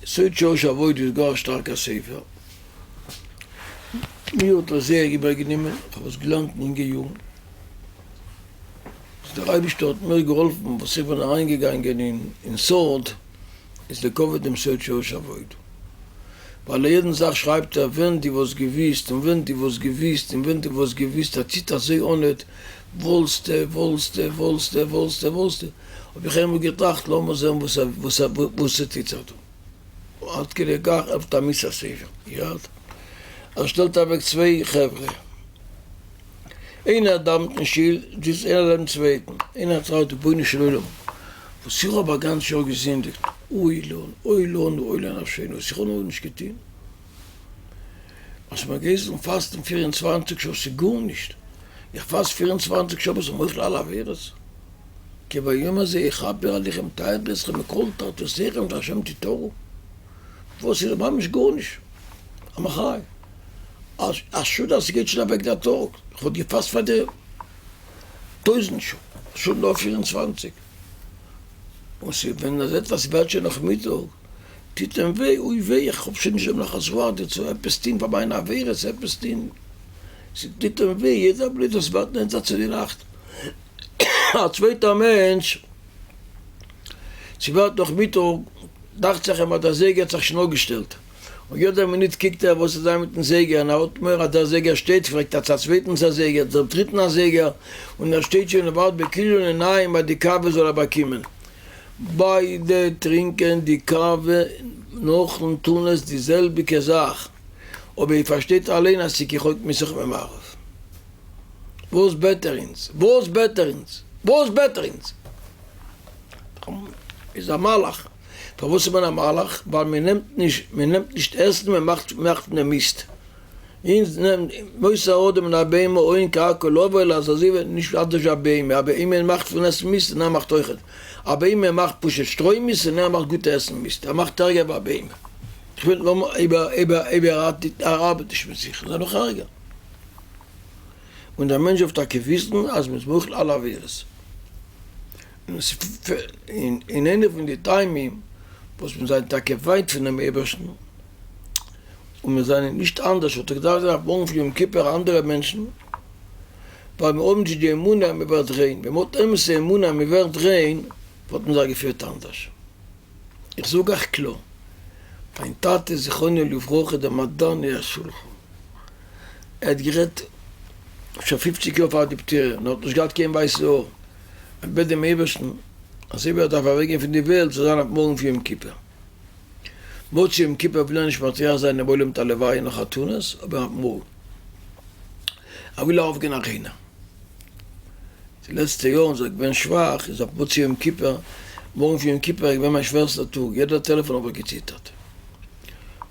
סוד שלש אבות איז גאר שטארקע ספר. מיר האט עס זייער איבער גענומען, איך האב עס געלערנט אין אינגע יארן. וואס דער אייבישטער האט מיר געהאלפן, וואס איך בין אריין געגאנגען אין סוד, איז די קאווע דעם סוד שלש אבות. ווייל א יעדן זאך שרייבט ער ווען די וואלסט געוויסט און ווען די וואלסט געוויסט און ווען די וואלסט געוויסט ער ציט אזוי אנעט וואלסטע וואלסטע וואלסטע וואלסטע וואלסטע האב איך איינמאל געטראכט לאמיר זען וואס ס'טוט זיך דא. עד כדי כך עפנט א מוסר ספר יד, ער שטעלט אוועק צוויי חברה, איינער דאווענט אין שול, זיצט איינער לעבן צווייטן, איינער טראכט רבונו של עולם, וואס איך האב א גאנץ יאר געזינדיגט, אוי לנו, אוי לנו, אוי לנפשינו, וואס איך האב נאר נישט געטון, אז מען גייט זאלן פאסטן פיר און צוואנציג שעה, ס'איז גארנישט, איך פאסט פיר און צוואנציג שעה אבער ס'איז מוחל על עבירות. כי ביום הזה יכפר עליכם טייערט איר זיך מכל תרתיכם און השם תתורו? וואס איז ממש גארנישט א מחיה, א שאד אז ס'גייט שוין אוועק דער טאג, כ'וואלט געפאסט פאר די טויזנט שעה, שעה נאר פֿיר און צוואַנציק, און ס'ווען אז עטוואס ווערט שוין נאכמיטאג, טוט אים וויי, אוי וויי איך האב שוין נישט דעם נחת רוח דיר צו עפעס טוהן פאר מיינע עבירות, עפעס טוהן, ס'טוט אים וויי יעדע בלוט וואס ווערט נענטער צו די נאכט. א צווייטער מענטש ס'ווערט נאכמיטאג, דאכצעך אים אז דער זייגער האט זיך שוין אפגעשטעלט, און יעדע מינוט קוקט ער וואס איז זיין מיטן זייגער, און ער האלט מורא אז דער זייגער שטייט, פרעגט ער צו א צווייטנס א זייגער, צום דריטן א זייגער, און ער שטייט שוין און ווארט בכיליון עיניים אז די קאווע זאל ער באקומען. ביידע טרינקען די קאווע נאכן טון עס די זעלביגע זאך, אבער איר פארשטייט אליין אז ס'קוכט מען זיך ממערב. וואס בעט ער אונז? וואס בעט ער אונז? וואס בעט ער אונז? איז א מלאך. פארוואס איז מען א מלאך? ווייל מען נעמט נישט, מען נעמט נישט עסן, מען מאכט מאכט פון דעם מיסט. אונז נעמט מוסר האדם מן הבהמה אוין קרקע לא עובר אז אזוי וועט נישט אנדערש א בהמה, א בהמה מאכט פון עסן מיסט און ער מאכט אויך, א בהמה מאכט פשוט שטרוי מיסט און ער מאכט גוטע עסן מיסט, ער מאכט ערגער ווי א בהמה. איך וויל נאר איבער איבער איבער ער ארבעט נישט מיט זיך איז ער נאך ערגער. און דער מענטש דארף טאקע וויסן אז מ'איז מוחל אלע עבירות, און איינע פון די טעמים וואס מיר זענען טאקע ווייט פונעם אייבערשטן און מיר זענען נישט אנדערש וואלט איך געדארפט זיין אויף מארגן פון יום כיפור אנדערע מענטשן, ווייל מיר האבן נישט די אמונה אז מ'ווערט ריין, ווען מ'האט אמת'ע אמונה אז מ'ווערט ריין וואלט מען זיך געפירט אנדערש. איך זאג אייך קלאר, מיין טאטע זכרונו לברכה איז דער מדני השולחן, ער האט גערעדט שוין פופציג יאר פאר די פטירה און ער האט נישט געהאט קיין ווייסע האר, ער בעט דעם אייבערשטן אז אויב ער דארף אוועק גיין פון די וועלט זאל זיין אויף מארגן פון יום כיפור, מוצאי יום כיפור וויל ער נישט מטריח זיין דעם עולם מיט א לוויה און חתונות אבער אויף מארגן וויל ער אויפגיין אריינער. די לעצטע יארן זייט כ'בין שוואך איז אויף מוצאי יום כיפור, מארגן פון יום כיפור איז געווען מיין שווערסטער טאג, יעדער טעלעפאן האב איך געציטערט.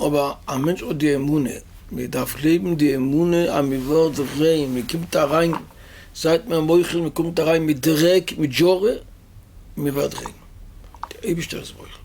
אבער א מענטש האט די אמונה, מען דארף גלייבן די אמונה אז מען ווערט זיך ריין, מען קומט אריין, זייט מיר מוחל, מען קומט אריין מיט דרעק, מיט דזשורע, און מען ווערט ריין. דער אייבערשטער איז מוחל.